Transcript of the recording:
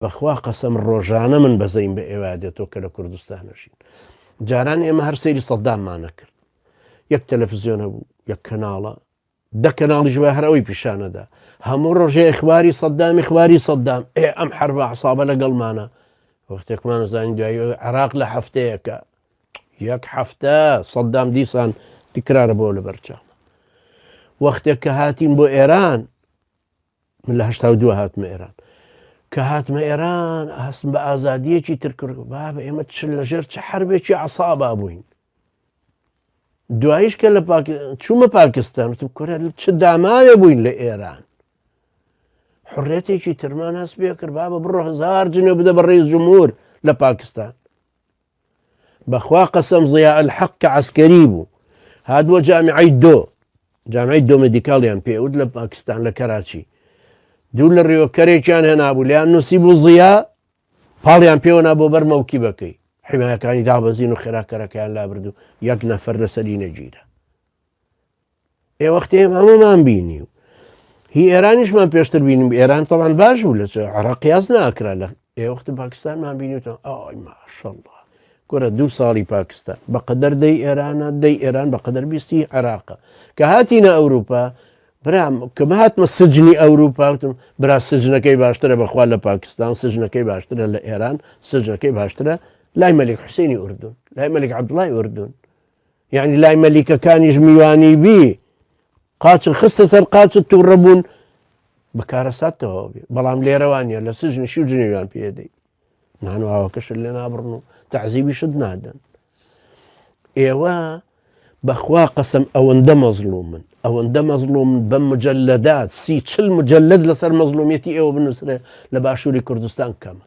بەخوا قەسەم ڕۆژانە من بەزەیم بە ئێوە دێتەوە کە لە کوردستانەژین جاران ئێمە هەر سەیری سەدداممانە کرد یەک تەلەفزیۆنە بوو یەک کەناڵە دە کەناڵی ژوە هەرەوەی پیشانەدا هەموو ڕۆژەیە خواری سەددامی خواری سەددام ئێ ئەم حربە عسابە لەگەڵمانە وەختێکمان زانین دوای عراق لە هەفتەیەەکە یەک هەفتە سەددام دیسان تکرارە بۆ لە بەرچاو وەختێک کە هاتیم بۆ ئێران من لە هەشتا و دووە هاتمە ئێران کە هاتمە ئێران هەستم بە ئازادیەکی ترکرد با بە ئێمە چ لە ژێر چ حربێکی عسابا بووین دوایش کە لە چوومە پاکستان وتم کورە چ داماوێ بووین لە ئێران حڕێتێکی ترمان هەست پێ کرد با بە بڕۆ هزار جنێ بدە بە ڕێز جمهور لە پاکستان بەخوا قەسەم ضیاء الحق کە عەسکەری بوو هاتبووە جامیعەی دۆ جامیعی دۆ مێدیکاڵیان پێوت لە پاکستان لە کەراچی دوور لە ڕێوە کەرێکیان هێنابوو لیان نووسی بوو ضیاء پاڵیان پێوەنا بۆ بەر مەوکی بەکەی حیمایەکانی دابەزین و خێراکەرەکەیان لابردو یەک نەفەر لەسەری نەگیرە ئێ وەختی هەمەمان بینی و هی ئێرانیشمان پێشتر بینیم ئێران تەوان باش بوو لە عراقیاز ناکرا لە ئێوەخت پاکستانمان بینیتەوە ئەوی ماشەڵڵە گۆرە دوو ساڵی پاکستان بەقەدەر دەی ئێرانە دەی ئێران بەقەدەر بیستی عێراقە کە هاتیینە ئەوروپا برام کە هاتمە سجنی ئەوروپاتم برا سجنەکەی باشترە بەخوا لە پاکستان سجنەکەی باشترە لە ئێران سجنەکەی باشترە لای مەلیک حوسێنی ئوردون لای مەلیک عبدڵای ئوردون یەعنی لای مەلیکەکانیش میوانی بی قاچت خستە سەر قاچت تووڕە بوون بە کارەساتەوە بێ بەڵام لێرەوانە لە سژنی شی و جنێویان پێدەی نانواوەکەشت لێ نابڕن و تەعزیبیشت نادەن ئێوە بەخوا قەسم ئەوەندە مەزلوم من ئەوەندە مەزلوم بە مجللەدات سی چل مجللد لەسەر مەزلومیەتی ئێوە بنووسرێ لە باشووری کوردستان کەمە